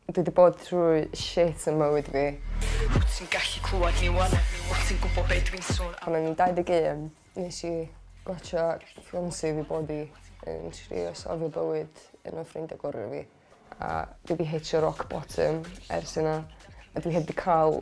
Dwi 'di bod trwy shit yn mywyd fi. Wt ti'n gallu clywad ni ŵan? Wt ti'n gwbo be' dwi'n son am? Pan o'n i'n 21 nes i watsio Beyonce fi bod i yn trio safio bywyd un o ffrindia gora fi a dwi 'di hitio rock bottom ers yna a dwi heb 'di ca'l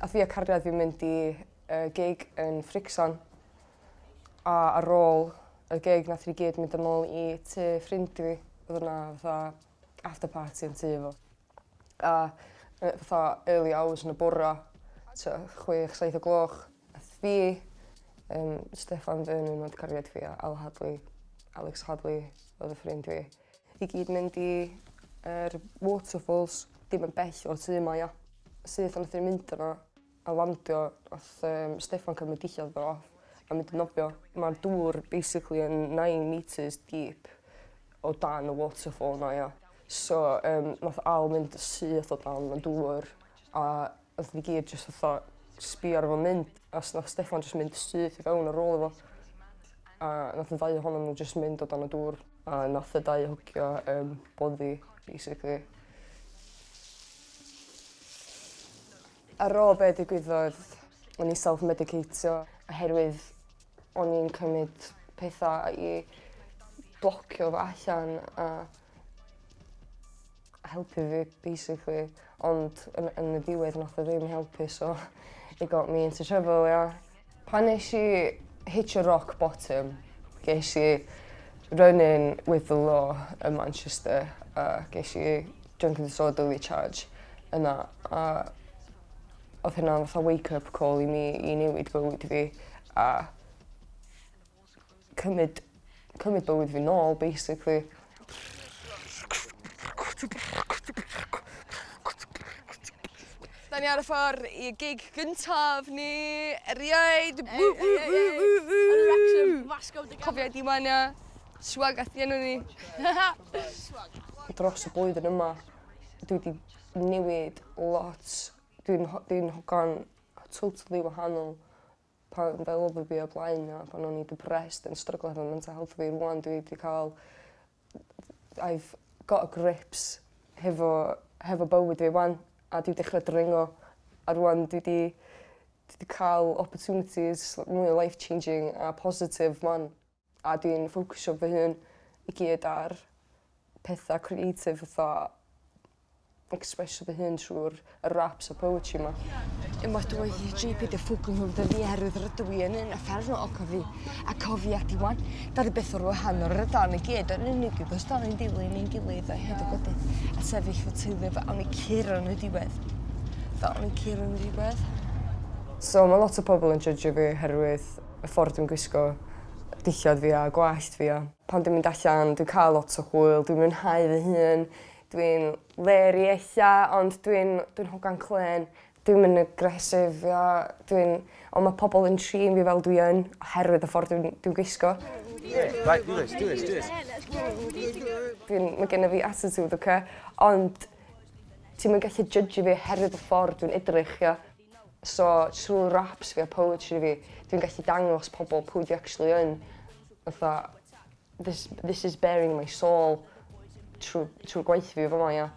Ath fi a cariad fi mynd i yy gig yn Frixon a ar ôl y gig nathon ni gyd mynd yn ôl i tŷ ffrind fi odd yna fatha after party yn tŷ fo a yy fatha early hours yn y bora t'o' chwech saith o gloch ath fi yym Steffan Vernon o'dd cariad fi a Al Hadley Alex Hadley o'dd y ffrind fi. I gyd mynd i yr waterfalls dim yn bell o'r tŷ yma ia. Syth a nath ni mynd yna a landio nath um, Steffan cymryd dillad fo off a mynd yn nofio. Ma'r dŵr basically yn nine metres deep o dan y waterfall 'na ia. So um nath Al mynd syth o dan y dŵr a Nathon ni gyd jyst fatha sbio ar fo'n mynd a s- nath Steffan jyst mynd syth i fewn ar ôl iddo fo a nath y ddau ohonon n'w jyst mynd o dan y dŵr a nath y ddau hwgio yym boddi basically. Ar ôl be' digwyddodd o'n i self medicateio oherwydd o'n i'n cymyd petha i blocio fo allan a helpu fi basically ond yn y yn y diwedd nath o ddim helpu so it got me into trouble ia. Pan nesh i hitio rock bottom gesh i run in with the law ym Manchester a gesh i drunk and disorderly charge yna a odd hynna'n fatha wake up call i mi i newid bywyd fi a cymyd cymyd bywyd fi nôl basically. Da ni ar y ffor i gig gyntaf ni, erioed! Ww, ww, ww, ww, ww! Yn Wrexham, Glasgow, dy Cofio di mania, swag at enw ni. Dros y blwyddyn yma, dwi wedi newid lot. Dwi'n dwi'n hogan totally wahanol pan o'n fel odd o fi o blaen a pan o'n i depressed yn stryglo efo mental health fi rŵan dwi 'di ca'l I've got a grips hefo hefo bywyd fi 'wan a dwi dechra dringo a rŵan dwi 'di dwi 'di ca'l opportunities mwy life changing a positif 'wan. A dwi'n ffocysio fy hun i gyd ar petha creative fatha expresio fy hun trw'r y raps a poetry 'ma. Unwaith roedd y Gee Pee oherwydd rydw i yn un uffernol o cofi a cofia ti 'wan. Da ni byth mor wahanol rydan ni gyd yn unig achos da ni'n dilyn ein gilydd a hyd y gwydyr a sefyll fy teulu fy awn ni curo yn y diwedd. Fel o'n i'n curo yn y diwedd. So ma' lot o pobol yn jydgio fi oherwydd y ffordd dwi'n gwisgo, dillad fi a gwallt fi a pan dwi'n mynd allan dwi'n cael lot o hwyl, dwi'n mwynhau fy hun, dwi'n leri ella ond dwi'n dwi'n hogan clên. Dwi'm yn aggressive ia dwi'n on' ma' pobol yn trin fi fel dwi yn oherwydd y ffordd dwi'n dwi'n gwisgo. Right do this do this do this. Dwi'n ma' gennyf fi attitude oce ond ti'm yn gallu jydgio fi oherwydd y ffordd dwi'n edrych ia? So trw raps fi a poetry fi dwi'n gallu dangos pobl pwy dwi actually yn fatha this this is baring my soul trw trw'r gwaith fi fama ia?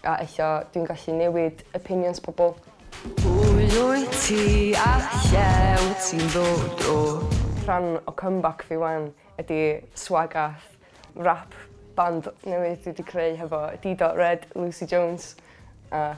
A ella dwi'n gallu newid opinions pobl. Pwy wyt ti a lle wyt ti'n ddod o? Rhan o comeback fi wan ydi Swagath, rap band newydd dwi 'di creu hefo Dee Dot Red, Lucy Jones a